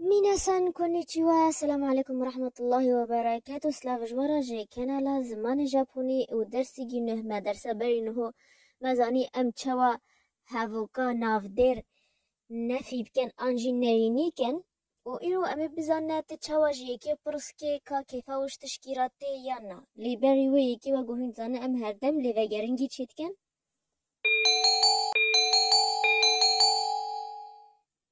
Minasan konnichiwa, selam aleykum rahmetullahi ve berekatu, slav ji wara ji kanala zimanê Japonî û dersî gî nuh me dersa berî nuho me zanî em çawa hevoka navdêr nefî bikin an jî nêrînî kin û îro em ê bizane tu çawa ji yekê pirs kê ka kêfa wişt tişkî re tê yan na. Lê berî wê yekê wek û hûn dizane em herdem lê vegeringî çê dikin.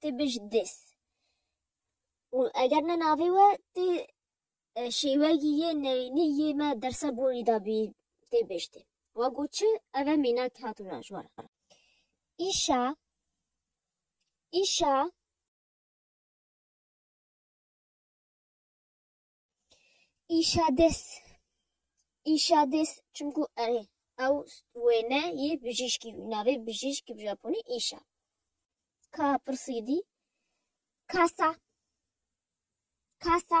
tê bij dês û eger ne navê we tê şêwegî yê neyînî yê me dersa borî da bî tê bij dê. Wa got çi? Ev e mînak hat wina ji wan re. Îşa, îşa. Îşa dest îşa dest çimkû erê ew wêne yê bijîşkî bî. Navê bijîşk bi japonî îşa. Ka pirsî dî kasa kasa.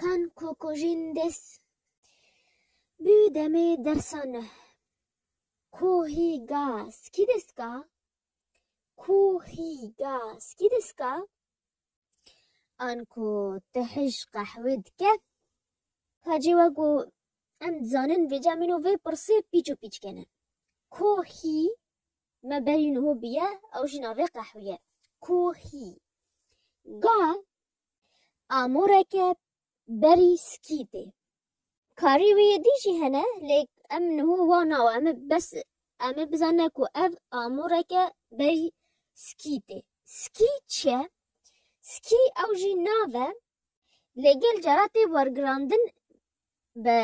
Kan ku kojîn dest bi demê dersa nû Ku hî ga skî dest ga Ku hî ga skî dest ga An ku ti hij qehwê dike Hacî we ku em dizanin vêca min û vê pirsê pîç û pîç kene Ku hî me berî niho biye ew jî navê qehwî ye Ku hî ga Amûreke berî skîtê. Karî wê yê dî jî hene lê em niho wa nawa em ê bes em ê bizane ku ev amûreke berî skîtê. Skî çi ye? Skî ew jî nav e lê gel cara tê wergirandin bi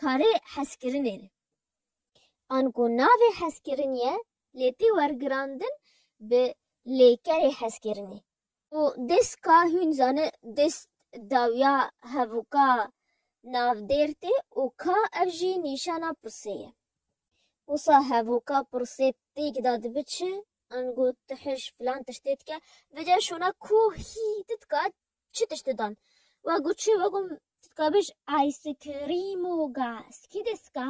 karê hezkirinê re. Anku navê hezkirin ye lê tê wergirandin bi lêkerê hezkirinê. Û dest ka hûn zane dest dawiya hevûka navdêr tê û ka ev jî nîşana pirsê ye. Wisa hevûka pirsê pêk da dibi çi? Ango tu hiş filan tiştê dike? Vêca şona ku hî tu dika çi tiştê dan? Wa got çi? Wa got tu dika bêj ayskrîmo gaz kî dêska?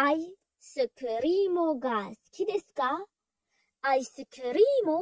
Ayskrîmo gaz kî dêska? Ayskrîmo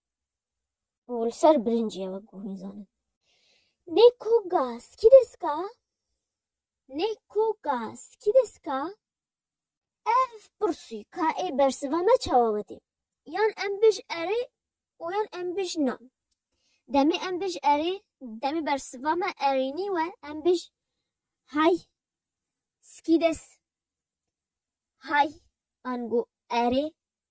û li ser birincê ye wek ku hûn zanin. Neko ga skideska Neko ga skideska Ev pirsî ka ê bersiva me çawa wetê? Yan em bij erê û yan em bij na. Demê em bij erê, demê bersiva me erênî we em bij Hay skides Hay ango erê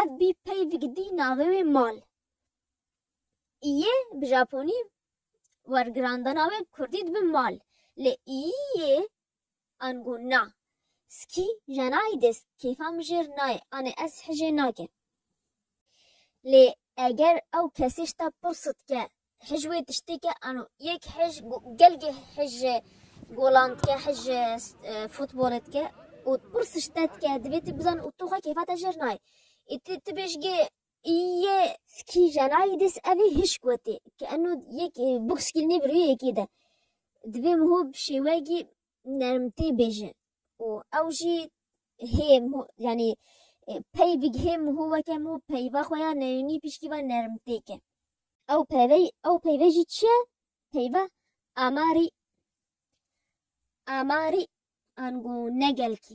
Ev bî peyv gidî navê wê mal. Îyê bi Japonî wergirandana wê kurdî dibi mal. Lê îyê an got na. Skî jenayî dê kêfa min jêr nayê anê ez hijê nake. Lê eger ew kesê ji te pirsitke Hij wê tiştê ke ano yek hij gelgê hij golan dike hij futbolê dike û pir sişte dike divê tu bizan û tu xwe kêfa te jêr nayê. Ê tu tu bêjgê yê skî jenayî dês evê hişk wetê ke ano yek box kî nê bi rûyê yekê de. Divê miho bi şêweyekî nermtê bêje û ew jî hê yanî peyvik hê mû weke mû peyva xwe ya neyûnî pişkî ve nermtê ke. Ew peyve ew peyve jî çi ye? Peyva amarî amarî an ku ne gelkî.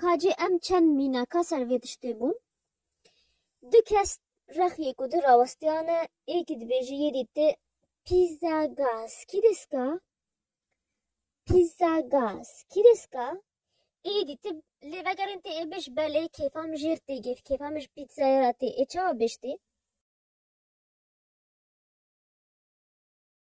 Ka cî em çend mînaka ser vê tiştê bûn. Du kes rex yê ku di rawestiyane ê kî dibêje yê dî ti pizza gas kî deska? Pizza gas kî deska? Ê dî ti lê vegerên tê ê bêj belê kêfa min jêr tê girt, kêfa min ji pîzzaya re tê ê çawa bêj tê?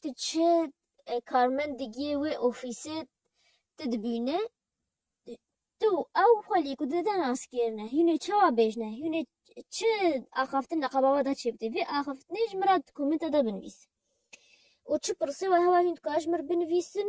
Tu çi karmend digiyê wê ofîsê tu dibînî, tu û ew xwe li ku di de nas kêrine. Hînê çawa bêjine, hînê çi axaftin li qebava de çêbitî. Vê axaftinê ji min re di komenta de binivîs. Û çi pirsê we hewa hîn dikare ji min re binivîsin